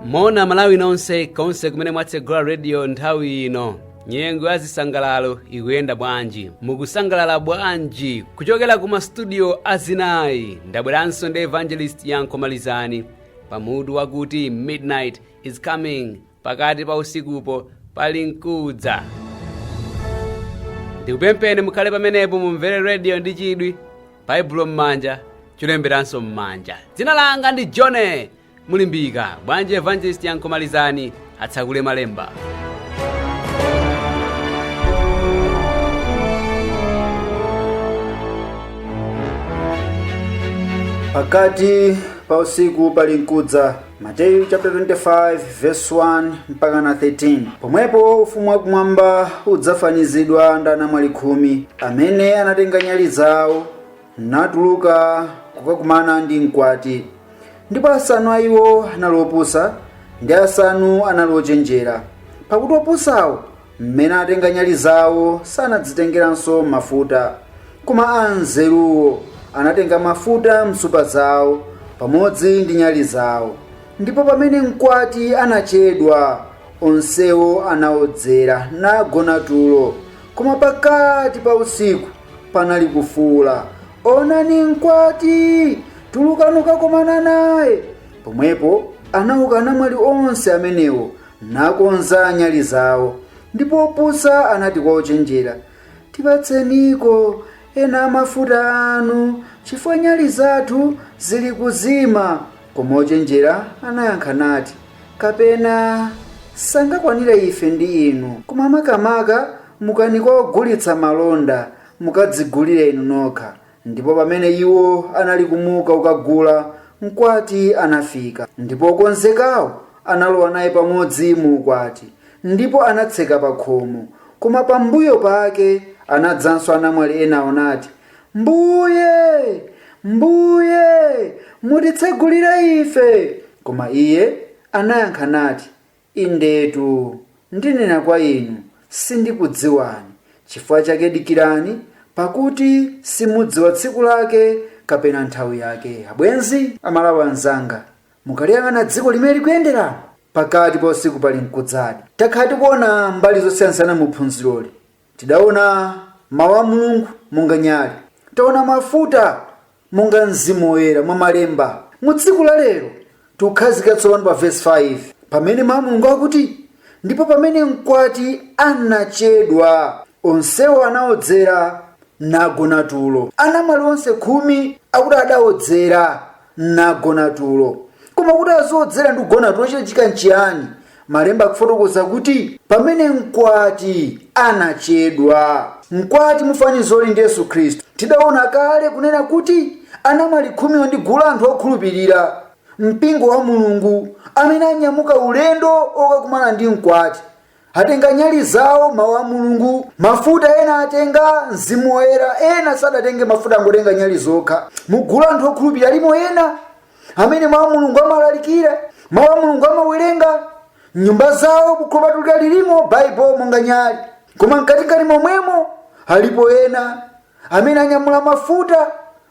moni malawi nonse konse kumene mwatsegula rediyo nthawi ino nyengo ya zisangalalo ikuyenda bwanji mukusangalala bwanji kuchokera ku mastudio azinayi ndabweranso ndi evangelist yanko malizani pa mutu wakuti midnight is coming pakati pa usikupo pali nkudza ndikupempheni mukhale pamenepo mumvere rediyo ndi chidwi baibulo m'manja cholemberanso m'manja dzina langa ndi john mulimbika bwanji evangelist yanko malizani atsakule malemba pakati pa usiku pali nkudza mateyu chapter 25 verse 1 mpaka na 13 pomwepo ufumu wakumwamba udzafanizidwa ndi anamwali khumi amene anatenga nyali zawo natuluka kukakumana ndi mkwati ndipo asanu a iwo anali opusa ndi asanu anali ochenjera pakuti opusawo M'mene atenga nyali zao sanadzitengeranso mafuta, koma anzeruwo anatenga mafuta m'nsupa zao pamodzi ndi nyali zao, ndipo pamene mkwati anachedwa, onsewo anaodzera, nagona tulo. Koma pakati pa usiku panali kufuula, Onani mkwati! Tulukani kakomana naye. Pomwepo anauka anamwali onse amenewo, nakonza nyali zawo. Ndipo opusa anati kwa ochenjera, Tipatseniko ena a mafuta anu, chifukwa nyali zathu zili kuzima. Koma ochenjera anayankha nati, Kapena sangakwanire ife ndi inu, koma makamaka mukani kwa ogulitsa malonda, mukadzigulire inu nokha. Ndipo pamene iwo anali kumuka kukagula, mkwati anafika, ndipo okonzekawo analowa naye pamodzi mu ukwati, ndipo anatseka pakhomo. Koma pambuyo pake anadzanso anamwali enawo nati, Mbuye, Mbuye, mutitsegulire ife! Koma iye anayankha nati, Indetu, ndinena kwa inu, sindikudziwani, chifukwa chake dikirani, pakuti simudziwa tsiku lake kapena nthawi yake. Abwenzi, Amalawi anzanga, mukaliyang'ana dziko mmene likuyenderamo, pakati pa usiku pali nkudzadi. Takhala tikuona mbali zosiyansiyana mu phunziroli, Tidaona mawu a Mulungu monga nyali, taona mafuta monga Mzimu Woyera mwa Malemba. Mu tsiku la lero, tikukhazikika tsopano pa vesi 5, pamene mawu a Mulungu akuti, Ndipo pamene mkwati anachedwa, onsewo anaodzera, nagona tulo. Anamwali onse khumi akuti adaodzera, nagona tulo koma kuti aziodzera ndi kugona tulo chachitika nchiyani malemba akufotokoza kuti pamene mkwati anachedwa mkwati mufanizoli ndi yesu khristu tidaona kale kunena kuti anamwali khumiwo ndi gulu la anthu okhulupirira mpingo wa mulungu amene anyamuka ulendo okakumana ndi mkwati atenga nyali zawo mawu a mulungu mafuta ena atenga mzimu woyera ena sadatenge mafuta angotenga nyali zokha mugulu la anthu okhulupirira alimo ena amene mawu a mulungu amalalikira mawu a mulungu amawerenga mnyumba zawo bukhu lopatulika lilimo baibulo monga nyali koma mkatikati momwemo alipo ena amene anyamula mafuta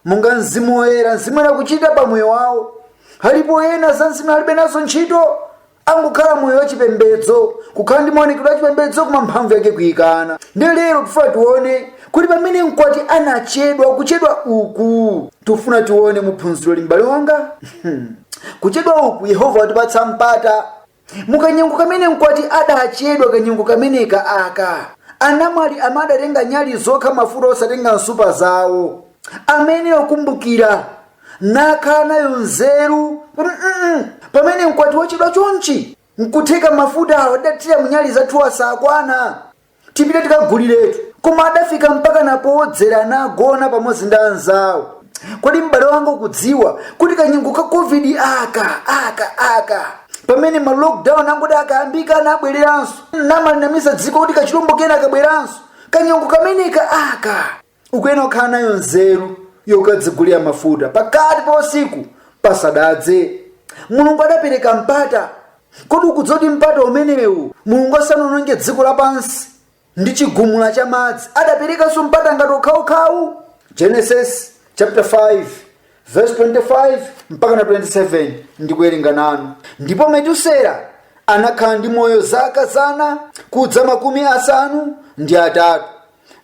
monga mzimu woyera mzimu woyera akuchita pa moyo wawo alipo ena za mzimu alibe nazo ntchito angokhala moyo wachipembedzo kukhala ndi maonekedwe achipembedzo koma mphamvu yake kuikana ndiye lero tifuna tione kuti pamene mkwati anachedwa kuchedwa uku tifuna tione muphunziroli m'bale wanga kuchedwa uku yehova watipatsa mpata mukanyengo kamene mkwati adachedwa kanyengo kameneka aka anamwali amene adatenga nyali zokha mafuta osatenga mnsupa zawo amayenera kukumbukira nakhala nayo nzeru kuti mm, pamene mkwati wachedwa chonchi nkutheka mafuta awa tidathira munyali zathu asakwana tipite tikaguliretu koma adafika mpaka napowodzera nagona pamodzi ndi anzawo kodi m'bale wanga ukudziwa kuti kanyengo ka covid aka aka aka pamene ma lockdown angoti akayambika anabwereranso namanamiza dziko kuti kachilombo kena kabweranso kanyengo kameneka aka ukuyenera kukhala nayo nzeru yokadzigulira mafuta pakati pa usiku pasadadze mulungu adapereka mpata kodi ukudziwa kuti mpata umenewu mulungu asanaononge dziko lapansi ndi chigumula cha madzi adaperekanso mpata ngati okhawokhawu genesis chapter 5 verse 25 mpaka na 27 ndikuwerenga nanu ndipo metusela anakhala ndi moyo zaka zana kudza makumi asanu ndi atatu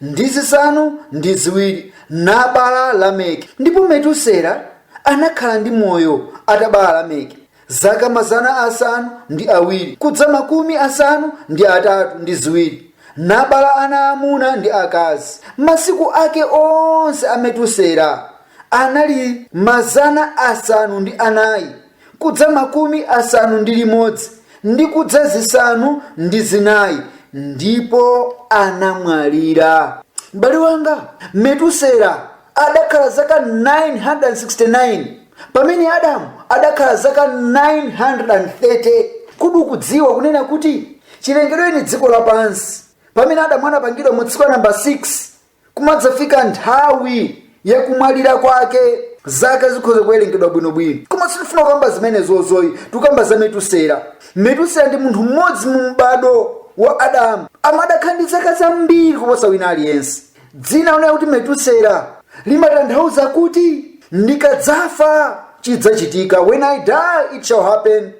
ndi zisanu ndi ziwiri nabala Lameki. Ndipo Metusela anakhala ndi moyo atabala Lameki zaka mazana asanu ndi awiri kudza makumi asanu ndi atatu ndi ziwiri nabala ana amuna ndi akazi. Masiku ake onse a Metusela anali mazana asanu ndi anayi kudza makumi asanu ndi limodzi ndi kudza zisanu ndi zinayi ndipo anamwalira m'bale wanga metusela adakhala zaka 969 pamene adamu adakhala zaka 930 kodi ukudziwa kunena kuti chilengedwereni dziko lapansi pamene adamu anapangidwa mu tsiku la namba 6 kumadzafika nthawi yakumwalira kwake zaka zikhoza kuwerengedwa bwinobwino koma sitifuna kukamba zimenezozo ayi tikukamba za metusera metusera ndi munthu mmodzi mu m'bado wa adamu amene adakhala ndi zaka zambiri kuposa wina aliyense dzina lonena kuti metusera limatanthauza kuti ndikadzafa chidzachitika when i die it shall happen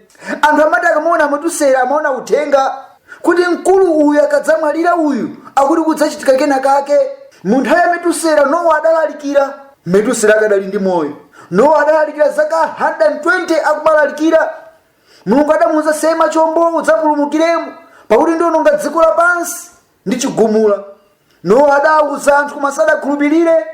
anthu amati akamaona a metusera amaona uthenga kuti mkulu uyu akadzamwalira uyu akuti kudzachitika kena kake mu nthawi ya metusera nowa adalalikira metusera akadali ndi moyo nowa adalalikira zaka 120 akumalalikira mulungu adamuuza sema chombo udzapulumukiremo pakuti ndiononga dziko lapansi ndi chigumula nowa adawuza anthu koma sadakhulupirire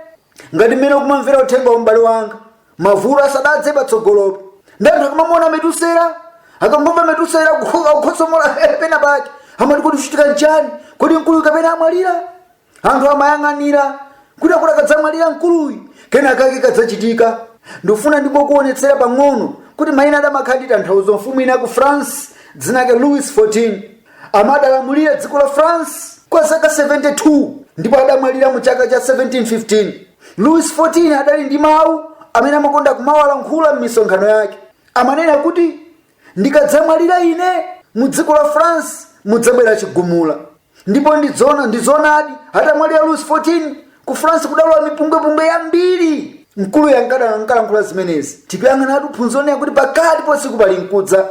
ngati mmene ukumvera uthenga uwu m'bale wanga mavuto asadadze patsogolopo ndiye anthu akamawaona a metusera akangomva a metusera akukhosomola pena pake amati kodi kuchitika nchani kodi mkuluyu kapena amwalira anthu amayang'anira kuti akuti akadzamwalira mkuluyu kena kake kadzachitika ndifuna ndingokuonetsera pang'ono kuti mayina adamakhala ndi tanthauzo mfumu ina ku france dzina lake louis 14 Amene adalamulira dziko la France kwa zaka 72 ndipo adamwalira mu chaka cha 1715. Louis 14 adali ndi mawu amene amakonda kumawalankhula m'misonkhano yake. Amanena kuti ndikadzamwalira ine mu dziko la France mudzabwera chigumula. Ndipo ndi zoona ndi zoonadi atamwalira Louis 14 Ku France kudalowa mipungwepungwe yambiri. Mkuluyo ankanda- ankalankhula zimenezi. Tikuyang'anatu phunziro lonena kuti pakati pausiku palinkudza.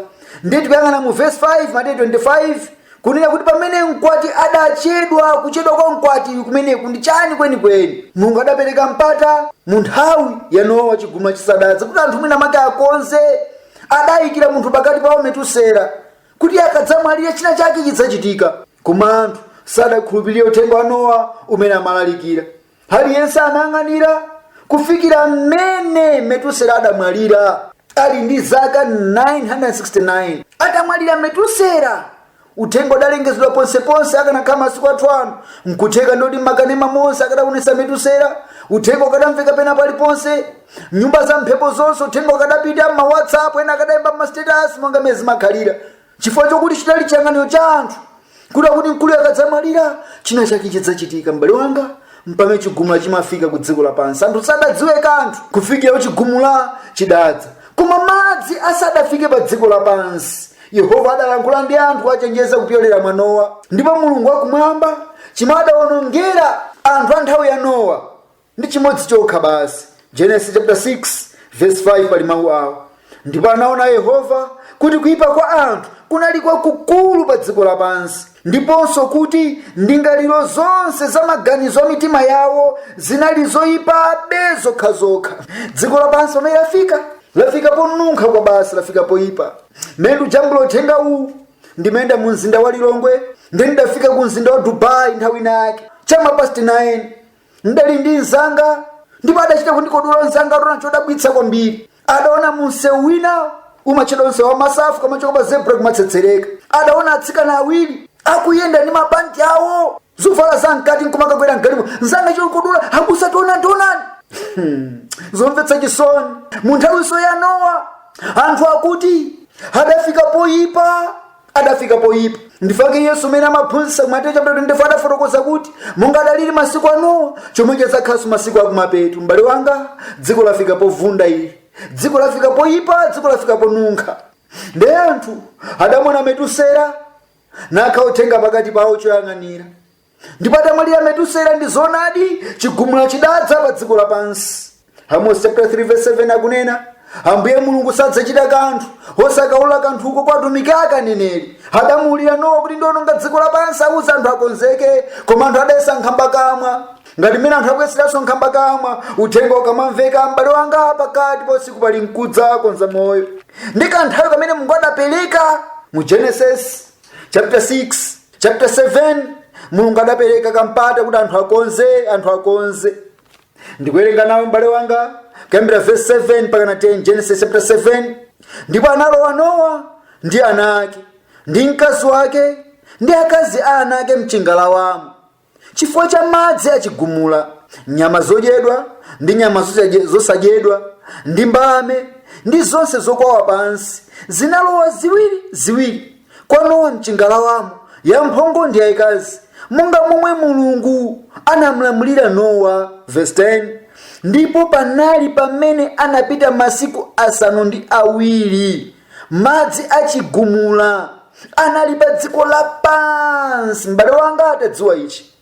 Ndiye tikuyang'ana mu verse 5, Mateyu 25, kunena kuti pamene mkwati adachedwa, kuchedwa kwa mkwati kumeneku ndi chani kwenikweni? Mulungu adapereka mpata mu nthawi ya Nowa chigumula chisadadze kuti anthu mwina make akonze. Adayikira munthu pakati pawo Metusela kuti akadzamwalira china chake chidzachitika. Koma anthu sadakhulupirire uthenga wa Nowa umene amalalikira. Aliyense anayang'anira kufikira mmene Metusela adamwalira ali ndi zaka 969. Atamwalira Metusela, uthenga udalengezedwa ponseponse akanakhala masiku athu ano. Nkutheka ndithu makanema monse akadaonetsa Metusela, uthenga ukadamveka pena paliponse. Nyumba za mphepo zonse uthenga ukadapita, ma WhatsApp ena akadayika m'masitetasi monga mmene zimakhalira. chifukwa chokuti chidali chiyang'aniro cha anthu kuti akuti mkuluyo akadzamwalira china chake chidzachitika m'bale wanga mpamene chigumula chimafika ku dziko lapansi anthu sadadziwe kanthu kufikira chigumula chidadza koma madzi asadafike pa dziko lapansi yehova adalankhula ndi anthu kuwachenjeza kupyolera mwa nowa ndipo mulungu wakumwamba chimadaonongera anthu a nthawi ya nowa Ndi chimodzi chokha basi. Genesis chapter 6 verse 5 pali mawu awo. Ndipo anaona Yehova kuti kuyipa kwa anthu kunali kwakukulu pa dziko lapansi, ndiponso kuti ndingaliro zonse za maganizo a mitima yawo zinali zoyipabe zokhazokha. Dziko lapansi pamene lafika, lafika ponunkha kwa basi, lafika poyipa. Mmene ndikujambula uthenga uwu, ndimayenda mu mzinda wa Lilongwe, ndiye ndidafika ku mzinda wa Dubai nthawi inayake, chama past 9 ndidali ndi mzanga ndipo adachita kundikodola mzanga ataona chodabwitsa kwambiri adaona mumsewu wina umatchedwa msewu wa masafu ukamachoka pa zebra kumatsetsereka adaona atsikana awiri akuyenda ndi mapanti awo zovala za mkati nkumakakwera mgalimo mzanga chondikodola abusa taonani taonani zomvetsa chisoni mu nthawinso ya nowa anthu akuti adafika poyipa adafika poyipa ndi chifukwa chake yesu mmene amaphunzitsa ku mateyu chapter 24 adafotokoza kuti monga adalili masiku a nowa chomwecho adzakhalanso masiku akumapeto m'bale wanga dziko lafika povunda ili dziko lafika poyipa dziko lafika ponunkha ndiye anthu adamuona metusela nakhala uthenga pakati pawo choyang'anira ndipo atamwalira metusela ndi zoonadi chigumula chidadza pa dziko lapansi amos chapter 3 verse 7 akunena ambuye mulungu sadzachita kanthu osakaulula kanthuko kwa atumiki ake aneneri adamuulira nowa kuti ndiononga dziko lapansi uwauze anthu akonzeke koma anthu adayesa nkhambakamwa ngati mmene anthu akuyeseranso nkhambakamwa uthenga ukamamveka m'bale wanga pakati pa usiku palinkudza konza moyo ndi kanthawi kamene mulungu adapereka mu genesis chapter 6 chapter 7 mulungu adapereka kampata kuti anthu akonze anthu akonze ndikuwerenga nawe m'bale wanga kuyambira verse 7 mpakana 10 genesis chapter 7 ndipo analowa nowa ndi ana ake ndi mkazi wake ndi akazi a ana ake mchingalawamo Chifukwa cha madzi a chigumula, nyama zodyedwa ndi nyama zosadye- zosadyedwa ndi mbalame ndi zonse zokwawa pansi zinalowa ziwiri ziwiri kwa Nowa mchingalawamo, yamphongo ndi yayikazi, monga momwe Mulungu anamlamulira Nowa. Verse 10 Ndipo panali pamene anapita masiku asanu ndi awiri madzi a chigumula anali pa dziko lapansi m'bale wanga atadziwa ichi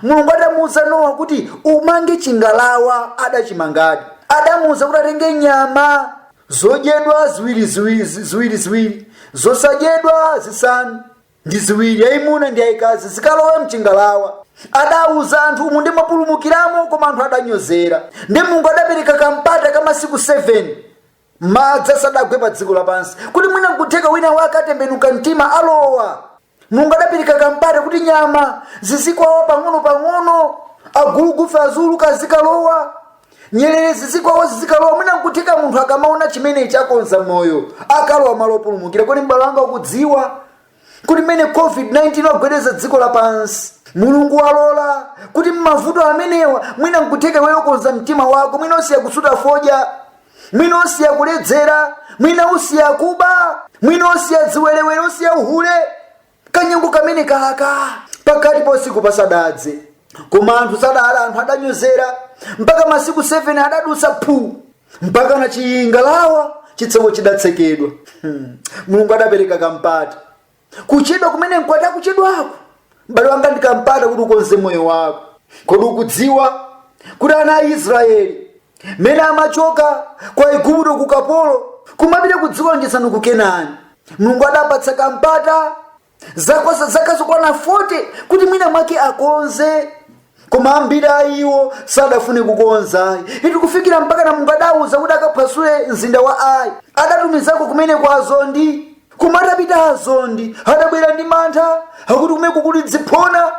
mulungu adamuuza nowa kuti umange chingalawa adachimangadi adamuuza kuti atenge nyama zodyedwa ziwiri ziwiri ziwiri ziwiri zosadyedwa zisanu ndi ziwiri yayimuna ndi yayikazi zikalowe mchingalawa adauza anthu umu ndi mapulumukiramo koma anthu adanyozera ndi mulungu adapereka kampata ka masiku 7 madzi asadagwe pa dziko lapansi kuti mwina nkutheka wina wake atembenuka mtima alowa mulungu adapereka kampata kuti nyama zizikwawa pang'ono-pang'ono agulugufe aziuluka azikalowa nyerere zizikwawa zizikalowa mwina nkutheka munthu akamaona chimenechi akonza moyo akalowa malo opulumukira kodi m'bale wanga ukudziwa kuti mmene covid-19 wagwedeza dziko lapansi mulungu walola kuti mmavuto amenewa mwina nkutheka iweyo ukonza mtima wako mwina usiya kusuta fodya mwina usiya kuledzera mwina usiya kuba mwina usiya ziwerewere usiya uhule kanyengo kamene kali pakati pa usiku pasadadze koma anthu sadala anthu adanyozera mpaka masiku 7 adadutsa phu mpakana chingalawa chitseko chidatsekedwa hmm. mulungu adapereka kampata kuchedwa kumene mkwati akuchedwako m'bale wanga ndikampata kuti ukonze moyo wako kodi ukudziwa kuti ana a israeli mene amachoka kwa igupto ku kapolo kumapita ku dziko lolonjezano ku kenani mulungu adawapatsa kampata zaka zaka zokwana 40 kuti mwina mwake akonze koma ambiri a iwo sadafune kukonza iti kufikira mpakana mulungu adauza kuti akaphwasule mzinda wa ayi adatumizako kumeneko azondi koma atapita azondi adabwera ndi mantha akuti kumeneko kuli ziphona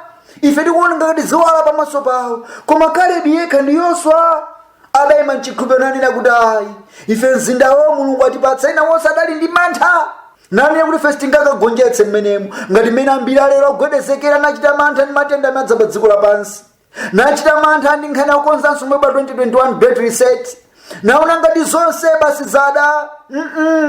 ife tikuoneka ngati ziwala pamaso pawo koma kalebi yekha ndi yoswa adayima mchikhulupiriro nanena kuti ayi ife mzindawo mulungu atipatsa ena onse adali ndi mantha nanena kuti ife sitingakagonjetse mmenemo ngati mmene ambiri alero agwedezekera nachita mantha ndi matenda amene adza pa dziko lapansi nachita mantha ndi nkhani yakukonzanso mweba 2021 great reset naona ngati zonse basi zatha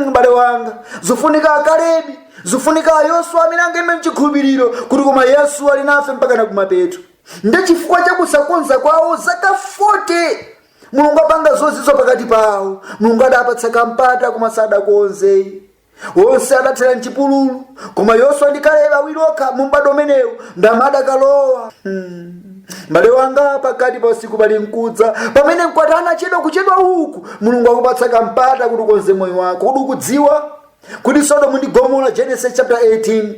m'bale wanga pafunika akalebi pafunika ayoswa amene angayime mchikhulupiriro kuti koma yesu ali nafe mpakana kumapeto ndi chifukwa cha kusakonza kwawo zaka 40 mulungu apanga zozizwitsa pakati pawo mulungu adawapatsa kampata koma sadakonze onse adathera mchipululu koma yoswa ndi kalebi awiri okha mu m'bado umenewo nd'amene adakalowa hmm. mbale wanga pakati pa usiku palinkudza pamene mkwati anachedwa kuchedwa uku mulungu akupatsa kampata kuti ukonze moyo wako kodi ukudziwa kuti sodomu ndi gomora genesis chapter 18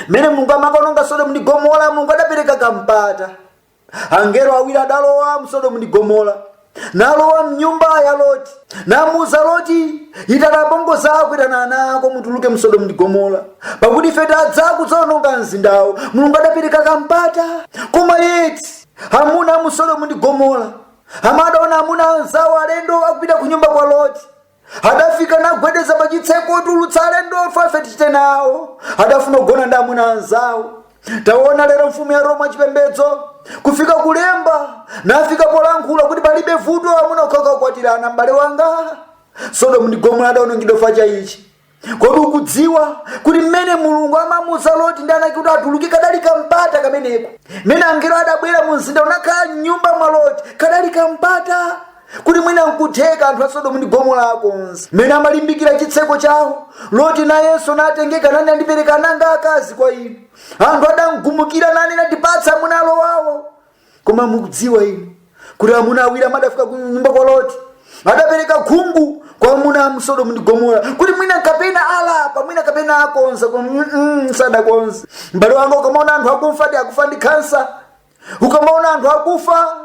mmene mulungu amakononga sodomu ndi gomora mulungu adapereka kampata angelo awiri adalowa msodomu ndi gomora nalowa mnyumba ya loti namuuza loti itana mbongo zako itana ana ako mutuluke msodomu ndi gomora pakuti ife tadza kudzaononga mzindawo mulungu adapereka kampata koma yeti amuna a musodomu ndi gomora amadaona amuna anzawo alendo akupita ku nyumba kwa loti adafika nagwedeza pa chitseko tulutsa alendowo ife tichite nawo adafuna kugona ndi amuna anzawo taona lero mfumu ya roma chipembedzo kufika kulemba nafika polankhula kuti palibe vuto amuna okhaokha akwatirana m'bale wanga sodomu ndi gomora adaonongedwa chifukwa cha ichi kodi ukudziwa kuti mmene mulungu amamuuza loti ndi anake kuti atuluke kadali kampata kameneko mmene angelo adabwera mu mzinda nakhala mnyumba mwa loti kadali kampata kuti mwina nkutheka anthu a sodomu ndi gomora akonze mmene amalimbikira chitseko chawo loti nayenso natengeka nanena ndipereka ana anga akazi kwa inu anthu adamgumukira nanena tipatse amuna alowawo koma mukudziwa inu kuti amuna awiri amene adafika ku nyumba kwa loti adapereka khungu kwa amuna a musodomu ndi gomora kuti mwina kapena alapa mwina kapena akonza koma mm, mm, sadakonze m'bale wanga ukamaona anthu akufa ndi akufa ndi kansa ukamaona anthu akufa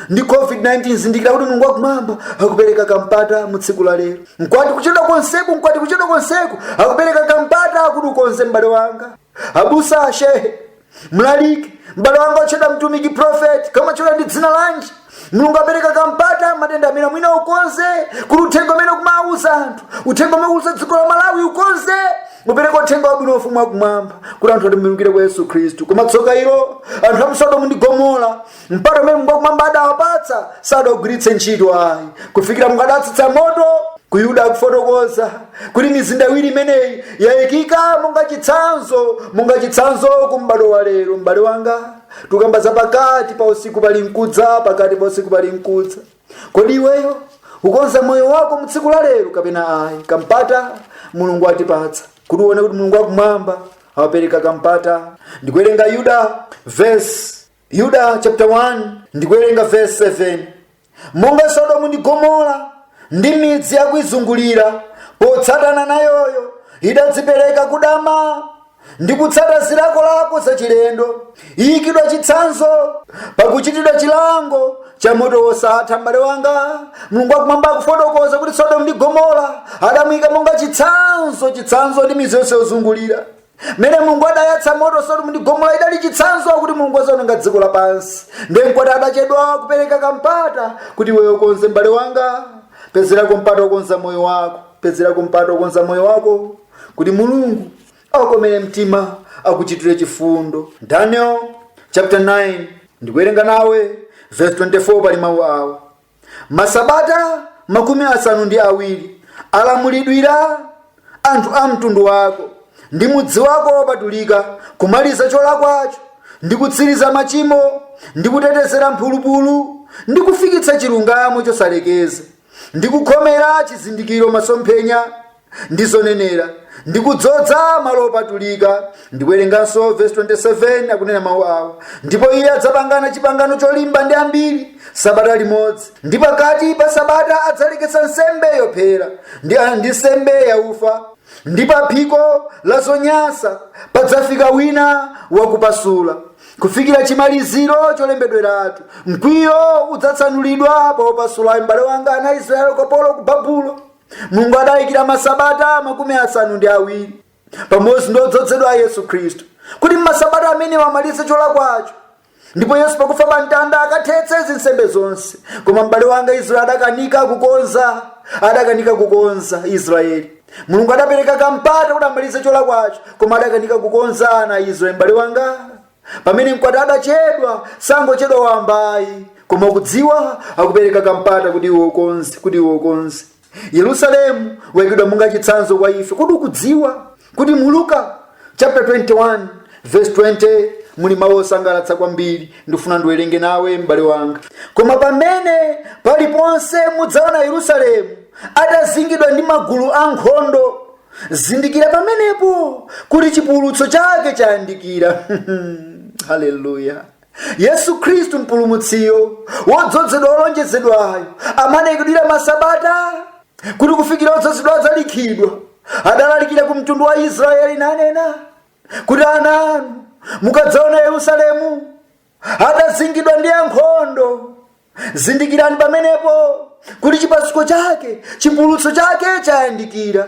ndi covid-19 zindikira kuti mulungu wakumwamba akupereka kampata mu tsiku la lero mkwati kuchedwa konseku mkwati kuchedwa konseku akupereka kampata kuti ukonze m'bale wanga abusa ashehe mlaliki m'bale wanga otchedwa mtumiki profeti kaya umatchedwa ndi dzina lanji mulungu apereka kampata matenda amene mwina ukonze kuti uthenga umene ukumawuza anthu uthenga umene ukuwuza dziko la malawi ukonze upereke uthenga wabwino wa ufumu wakumwamba kuti anthu atembenukire kwa yesu khristu koma tsoka ilo anthu a mu sodomu ndi gomora mpata umene mulungu wakumwamba adawapatsa sadagwiritse ntchito ayi kufikira mulungu adatsitsa moto buku la yuda akufotokoza kuti mizinda iwiri imeneyi yayikika monga chitsanzo monga chitsanzo ku m'bado wa lero m'bale wanga tukamba za pakati pa usiku pali mkuwo pakati pa usiku pali mkuwo kodi iweyo ukonza moyo wako mu tsiku la lero kapena ayi kampata mulungu atipatsa kuti uone kuti mulungu wakumwamba awapereka kampata ndikuwerenga yuda vesi Yuda chapter 1 ndikuwerenga verse 7 monga sodomu ndi gomora ndi midzi yakuizungulira potsatana nayoyo idadzipereka kudama ndi kutsata zilakolako zachilendo iyikidwa chitsanzo pakuchitidwa chilango cha moto wosatha m'bale wanga mulungu wakumwamba akufotokoza kuti sodomu ndi gomora adamuyika monga chitsanzo chitsanzo ndi midzi yonse yozungulira mmene mulungu adayatsa moto sodomu ndi gomora idali chitsanzo kuti mulungu azaononga dziko lapansi ndiye mkwati adachedwa kupereka kampata kuti iweyo ukonze mbale wanga pezerako mpata okonza moyo wako pezerako mpata okonza moyo wako kuti mulungu akukomere mtima akuchitire chifundo daniel chapter 9 ndikuwerenga nawe verse 24 pali mawu awa masabata makumi asanu ndi awiri alamulidwira anthu a mtundu wako ndi mudzi wako wopatulika kumaliza cholakwacho ndi kutsiriza machimo ndi kutetezera mphulupulu ndi kufikitsa chilungamo chosalekeza ndi kukhomera chizindikiro masomphenya ndi zonenera ndi kudzodza malo opatulika ndikuwerenganso vesi 27 akunena mawu awa ndipo iye adzapangana chipangano cholimba ndi ambiri sabata limodzi ndi pakati pa sabata adzaleketsa nsembe yophera ndi nsembe yaufa ndi pa phiko la zonyansa padzafika wina wakupasula kufikira chimaliziro cholembedweratu mkwiyo udzatsanulidwa pa opasulayo m'bale wanga ana a israeli ukapolo ku babulo mulungu adayikira masabata makumi asanu ndi awiri pamodzi ndi odzozedwa yesu khristu kuti m'masabata amenewa amalize cholakwacho ndipo yesu pakufa pa mtanda akathetse zinsembe zonse koma m'bale wanga israeli adakanika kukonza adakanika kukonza israeli mulungu adapereka kampata kuti amalize cholakwacho koma adakanika kukonza ana a israeli m'bale wanga pamene mkwati adachedwa sangochedwa wambayi koma ukudziwa akupereka kampata kuti iwe ukonze kuti iwe ukonze yerusalemu waikidwa monga chitsanzo kwa ife kodi ukudziwa kuti mu luka chapter 21 verse 20 muli mawu osangalatsa kwambiri ndifuna ndiwerenge nawe m'bale wanga koma pamene paliponse mudzaona yerusalemu atazingidwa ndi magulu ankhondo zindikira pamenepo kuti chipululutso chake chayandikira haleluya yesu khristu mpulumutsiyo wodzozedwa wolonjezedwayo amene anaikidwira masabata kuti kufikira odzozedwa adzalikhidwa adalalikira ku mtundu wa israeli nanena kuti ana inu mukadzaona yerusalemu atazingidwa ndi ankhondo zindikirani pamenepo kuti chipasuko chake chipululutso chake chayandikira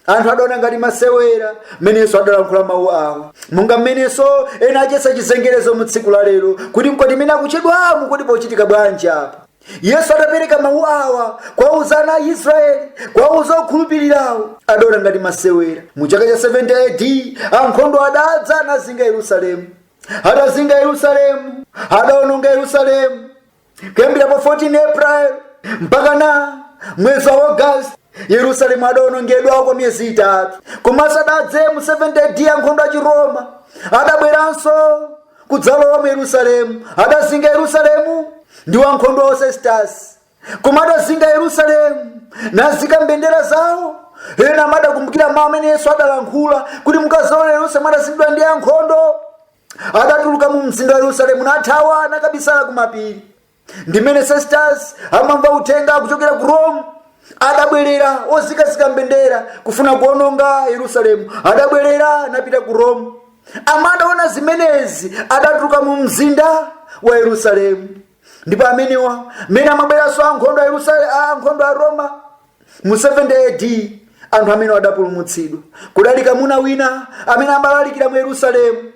anthu adaona ngati masewera mmenenso adalankhula mawu awa monga mmenenso ena ayesa chizengerezo mu tsiku la lero kuti mkwati mmene akuchedwamu kodi pochitika bwanji apa yesu adapereka mawu awa kuwauza ana a israeli kuwauza okhulupirirawo adaona ngati masewera mu chaka cha 70 ad ankhondo adadza nazinga yerusalemu adazinga yerusalemu adaononga yerusalemu kuyambira pa 14 april mpaka na mwezi wa august yerusalemu adaonongedwa kwa miyezi itatu koma asadadze mu 70 ad ankhondo a chiroma adabweranso kudzalowa mu yerusalemu adazinga yerusalemu ndi wankhondo wa sesitasi koma adazinga yerusalemu nazika mbendera zawo ena amene adakumbukira mawu amene yesu adalankhula kuti mukadzaona yerusalemu adazingidwa ndi ankhondo adatuluka mu mzinda wa yerusalemu nathawa nakabisala kumapiri ndimene sestas amamva uthenga kuchokera ku rome adabwerera ozikazika mbendera kufuna kuononga yerusalemu adabwerera napita ku rome amene adaona zimenezi adatuluka mu mzinda wa yerusalemu ndipo amenewa mmene amabweranso ankhondo a yerusalemu a ankhondo a roma mu 70 ad anthu amenewa adapulumutsidwa kudali kamuna wina amene amalalikira mu yerusalemu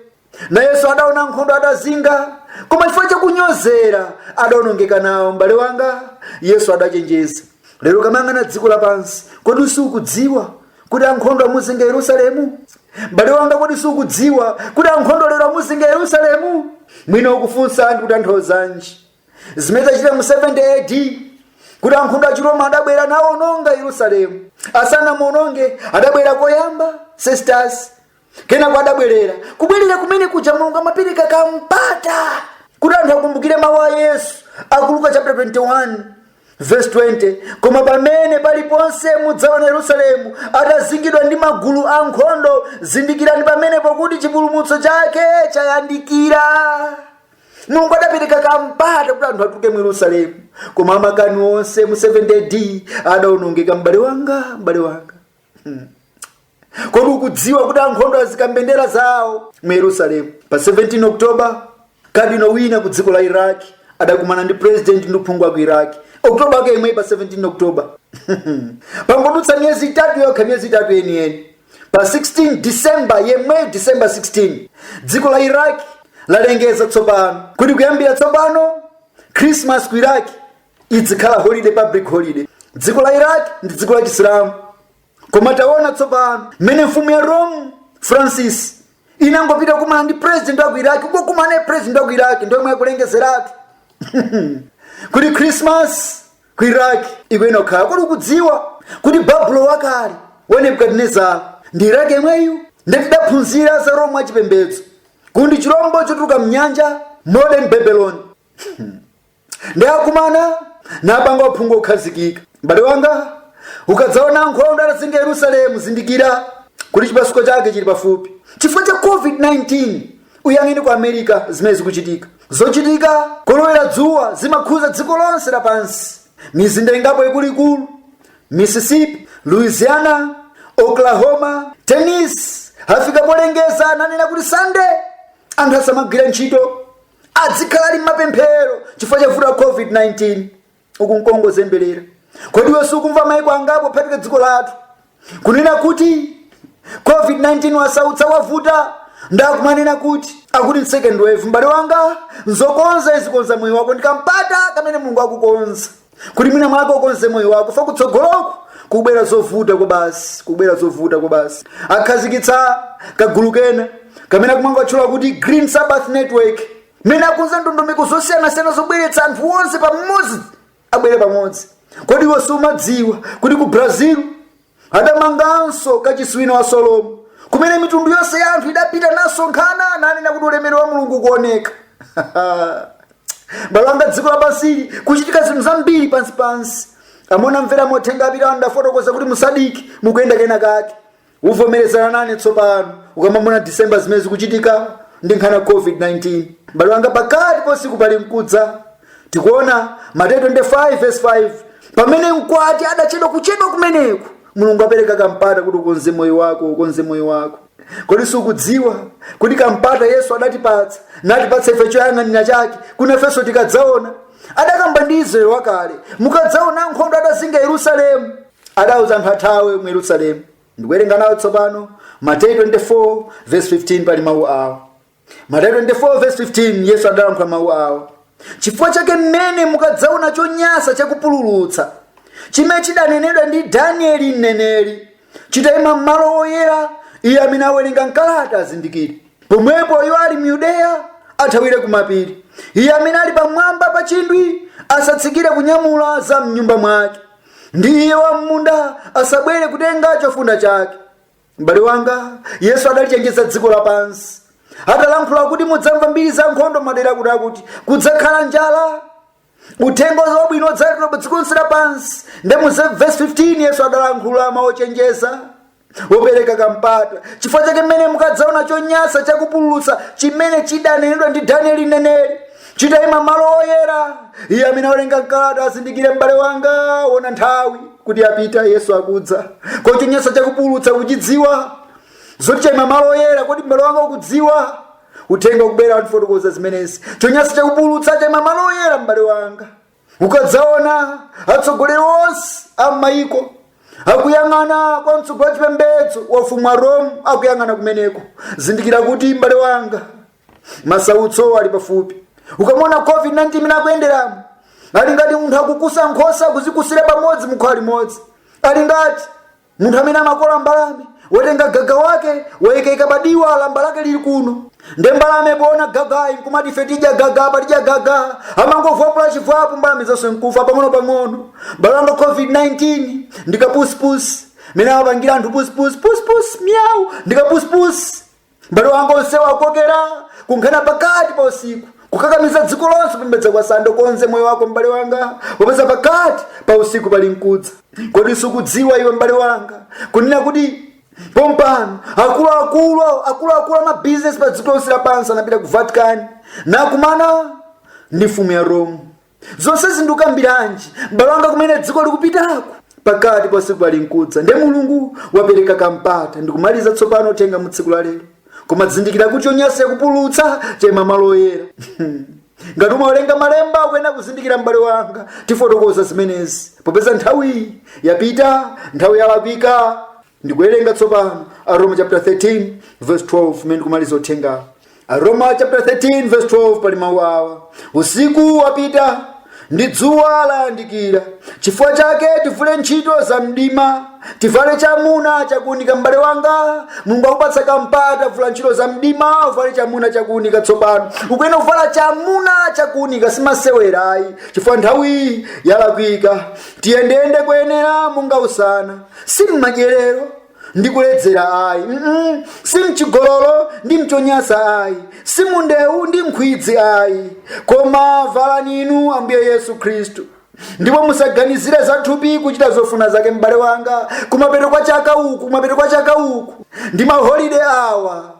nayenso adaona nkhondo adazinga koma chifukwa chakunyozera adaonongeka nawo m'bale wanga yesu adachenjeza lero ukamayang'ana dziko lapansi kodi sukudziwa kuti ankhondo amuzinga yerusalemu m'bale wanga kodi sukudziwa kuti ankhondo lero amuzinga yerusalemu mwina ukufunsa ndi kutanthauzanji zimene zidachitika mu 70 ad kuti ankhondo achiroma adabwera nawononga yerusalemu asanamuononge adabwera koyamba sestas kenako adabwerera kubwerera kumene kuja mulungu amapereka kampata kuti anthu akumbukire mawu a yesu akuluka chapter 21 verse 20 koma pamene paliponse mudzaona yerusalemu atazingidwa ndi magulu a nkhondo zindikirani pamenepo kuti chipulumutso chake chayandikira mulungu adapereka kampata kuti anthu atuluke mu yerusalemu koma amakani onse mu 70 ad adaonongeka m'bale wanga m'bale wanga kodi ukudziwa kuti ankhondo azika mbendera zawo mu yerusalemu pa 17 oktoba kadino wina ku dziko la iraq adakumana ndi president ndi aphungu a ku iraq oktoba ake yemweyi pa 17 oktoba pangodutsa miyezi itatu yokha miyezi itatu yeniyeni pa 16 disemba yemweyi disemba 16 dziko la iraq lalengeza tsopano kuti kuyambira tsopano christmas ku iraq idzikhala holiday public holiday dziko la iraq ndi dziko la chisilamu koma taona tsopano mmene mfumu ya rome francis inangopita kumana ndi president wa ku iraki kokumana naye president wa ku iraki nthawi yomweyo akulengezeratu kuti krismas ku iraki ikuyenera kukhala kodi ukudziwa kuti babulo wakale wa nebukadinezara ndi iraki yemweyu ndiye tidaphunzira za roma achipembedzo kuti ndi chilombo chotuluka mnyanja modern babylon ndi akumana napanga uphungu okhazikika m'bale wanga ukadzaona ankhondo atazinga yerusalemu zindikira kuti chipasuko chake chili pafupi chifukwa cha covid-19 uyang'ane ku america zimene zikuchitika zochitika kolowera dzuwa zimakhuza dziko lonse lapansi mizinda ingapo ikuluikulu mississippi louisiana oklahoma tennessee afika polengeza nanena kuti sande anthu asamagwira ntchito adzikhala ali mmapemphero chifukwa cha vuto la covid-19 uku nkungozemberera kodi iwe sukumva maiko angapo phatika dziko lathu kunena kuti covid-19 wasautsa wavuta nde akumanena kuti akuti second wave m'bale wanga nzokonza izi konza moyo wako ndi kampata kamene mulungu akukonza kuti mwina mwake ukonze moyo wako fa kutsogoloko kubwera zovuta kwabasi kubwera zovuta kwabasi akhazikitsa kagulu kena kamene akumakatchula kuti green sabbath network amene akukonza ndondomeko zosiyanasiyana zobweretsa anthu onse pamodzi abwere pamodzi kodi iwe sumadziwa kuti ku brazil adamanganso kachisi wina wa solomo kumene mitundu yonse ya anthu idapita nasonkhana nanena kuti ulemerero wa mulungu ukuoneka m'bale wanga dziko lapansili kuchitika zinthu zambiri pansi pansi amene amvera mauthenga apita ndafotokoza kuti musadiki mukuyenda kena kake uvomerezana nane tsopano ukamaona disemba zimene zikuchitika ndi nkhani ya covid-19 m'bale wanga pakati pa usiku palinkudza tikuona mateyu 25 verse 5 pamene mkwati adachedwa kuchedwa kumeneku mulungu apereka kampata kuti ukonze moyo wako ukonze moyo wako kodi sukudziwa kuti kampata yesu adatipatsa natipatsa ife choyang'anira chake kuti nafenso tikadzaona adakamba ndi israeli wakale mukadzaona ankhondo atazinga yerusalemu adauza anthu athawe mu yerusalemu ndikuwerenga nawo tsopano mateyu 24 verse 15 pali mawu awo Mateyu 24 verse 15 Yesu adalankhula mawu awo chifukwa chake mmene mukadzaona chonyansa chakupululutsa chimene chidanenedwa ndi Danieli mneneri chitayima m'malo oyera iye amene awerenga mkalata azindikire pomwepo iwo ali m'Yudeya athawire kumapiri iye amene ali pamwamba pa chindwi asatsikire kunyamula za mnyumba mwake ndi iye wam'munda asabwere kutenga chofunda chake m'bale wanga yesu adalichenjeza dziko lapansi atalankhula kuti mudzamva mbiri za nkhondo madera akutiakuti kudzakhala njala uthenga wabwino udzalalikidwa pa dziko lonse lapansi nde mu vesi 15 yesu adalankhula mawu ochenjeza opereka kampata chifukwa chake mmene mukadzaona chonyansa chakupululutsa chimene chidanenedwa ndi danieli mneneri chitaima malo oyera iye amene awerenga mkalata azindikire m'bale wanga wona nthawi kuti yapita yesu akudza kodi chonyansa chakupulutsa ukuchidziwa zoti chaima malo oyera kodi m'bale wanga ukudziwa uthenga ukubwera tifotokoza zimenezi chonyansa chakupulutsa chaima malo oyera m'bale wanga ukadzaona atsogoleri onse a m'mayiko akuyang'ana kwa mtsogoleri wa chipembedzo wa ufumu wa rome akuyang'ana kumeneko zindikira kuti m'bale wanga masautso ali pafupi ukamuona covid-19 mmene akuyenderamo ali ngati munthu akukusa nkhosa akuzikusira pamodzi mukhola limodzi ali ngati munthu amene amakola mbalame watenga gaga wake waikaika pa diwa lamba lake lili kuno nde mbalame poona gagayu nkumati ife tidya gaga apa tidya gaga amangovwapula chivwapo mbalame zonse nkufa pang'onopang'ono m'bale wanga covid-19 ndikapusipusi mmene amapangira anthu pusipusi pusipusi miyawu ndikapusipusi mbale wanga onse awakokera kunkhani ya pakati pa usiku kukakamiza dziko lonse kupembedza kwa sande konza moyo wako mbale wanga popeza pakati pa usiku pali nkudza kodi sukudziwa iwe mbale wanga kunena kuti pompano akuluakulu akuluakulu amabizinesi pa dziko lonse lapansi anapita ku vatican nakumana ndi mfumu ya rome zonsezi ndikukambiranji m'bale wanga kumene dziko likupitaku pakati pa usiku pali nkudza nde mulungu wapereka kampata ndikumaliza tsopano uthenga mu tsiku la lero koma zindikira kuti chonyansa chakupulutsa chaima malo oyera ngati umawerenga malemba ukuyenera kuzindikira m'bale wanga tifotokoza zimenezi popeza nthawiyi yapita nthawi yalakwika Ndikuwerenga tsopano Aroma chapter 13 verse 12 mmene ndikumaliza uthengawo. Aroma chapter 13 verse 12 pali mawu awa, usiku wapita ndi dzuwa layandikira, chifukwa chake tivule ntchito za mdima, tivale chamuna chakuunika. M'bale wanga, Mulungu wakupatsa kampata, vula ntchito za mdima, uvale chamuna chakuunika tsopano. Ukuyenera kuvala chamuna chakuunika, si masewera ayi, chifukwa nthawi yalakwika. Tiyendeyende koyenera monga usana, si mmadyerero ndi kuledzera ayi mm-mm. si mchigololo ndi mchonyansa ayi si mundewu ndi nkhwidzi ayi koma valani inu ambuye yesu khristu ndipo musaganizire za thupi kuchita zofuna zake m'bale wanga kumapeto kwa chaka uku kumapeto kwa chaka uku ndi maholide awa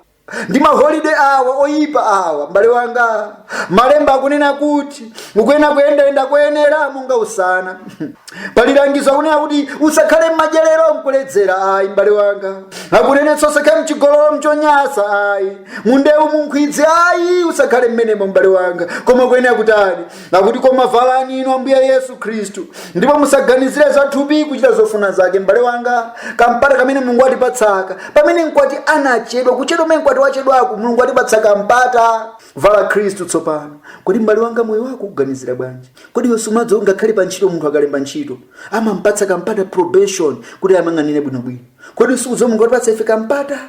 ndi maholide awa oyipa awa m'bale wanga malemba akunena kuti ukuyenera kuyendayenda koyenera monga usana pali langizo akunena kuti usakhale m'madyerero mkuledzera ayi m'bale wanga akunenetsa usakhale mchigololo mchonyansa ayi mundewu munkhwidzi ayi usakhale mmenemo m'bale wanga koma ukuyenera kutani akuti koma valani inu ambuye yesu khristu ndipo musaganizire za thupi kuchita zofuna zake m'bale wanga kampata kamene mulungu watipatsaka pamene mkwati anachedwa kuchedwa kumene mkwati wachedwaku mulungu watipatsa kampata vala khristu tsopano kodi m'bale wanga moyo wako ukuganizira bwanji kodi iwe sumadziwa ngakhale pa ntchito munthu akalemba ntchito amampatsa kampata probation kuti amuyang'anire bwinobwino kodi sukudziwa mulungu watipatsa ife kampata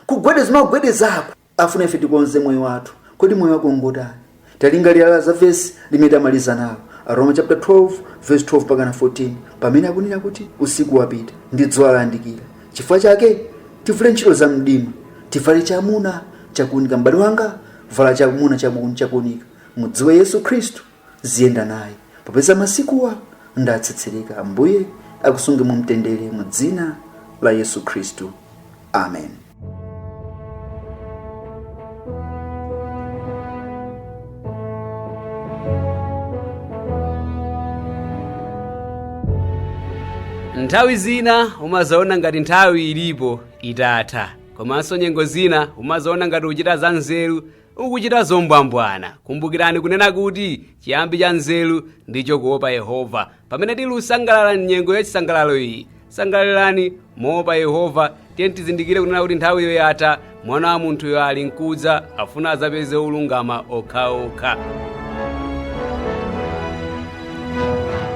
kugwedeza magwedezako Afuna ife tikonze moyo wathu. Kodi moyo wako ngotani? Talingalira za vesi limene tamaliza nalo, Aroma chapter 12 verse 12 pakana 14, pamene akunena kuti usiku wapita ndi dzuwa layandikira. Chifukwa chake tivule ntchito za mdima, tivale chamuna chakuunika. M'bale wanga, vala chamuna chabu- chakuunika. Mudziwe Yesu Khristu, ziyenda naye popeza masikuwa ndatsetsereka ambuye akusunge mu mtendere mu dzina la yesu khristu amen nthawi zina umazaona ngati nthawi ilipo itatha komanso nyengo zina umazaona ngati uchita za nzeru ukuchita zombwambwana. Kumbukirani kunena kuti chiyambi cha nzeru ndicho kuopa Yehova. Pamene tili kusangalala m'nyengo ya chisangalalo iyi, sangalalani moopa Yehova. Tiyeni tizindikire kunena kuti nthawiyo yatha, mwana wa munthuyo ali nkudza, afuna adzapeze olungama okhaokha.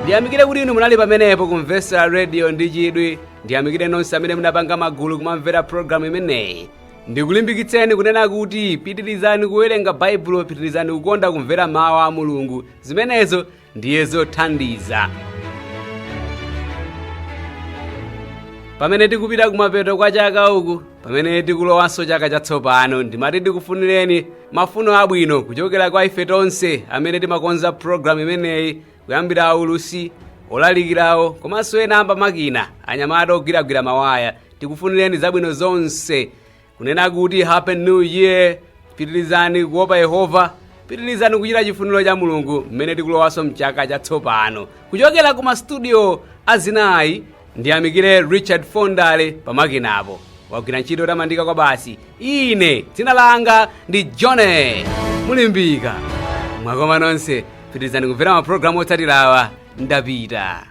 ndiyamikire kuti inu munali pamenepo kumvetsera radio ndi chidwi ndiyamikire nonse amene munapanga magulu kumamvera programu imeneyi Ndikulimbikitseni kunena kuti pitirizani kuwerenga Baibulo, pitirizani kukonda kumvera mawu a Mulungu. Zimenezo ndiye zothandiza. Pamene tikupita kumapeto kwa chaka uku, pamene tikulowanso chaka chatsopano, ndimati ndikufunireni mafuno abwino kuchokera kwa ife tonse amene timakonza programu imeneyi kuyambira aulutsi, olalikirawo komanso ena amba makina, anyamata ogwiragwira mawaya tikufunireni zabwino zonse kunena kuti happy new year pitirizani kuopa yehova pitirizani kuchita chifuniro cha mulungu mmene tikulowanso mchaka chatsopano kuchokera ku mastudio azinayi ndiyamikire richard fondale pamakinapo wagwira ntchito yotamandika kwabasi ine dzina langa ndi johnny mulimbika mwakoma nonse pitirizani kumvera mapulogalamu otsatirawa ndapita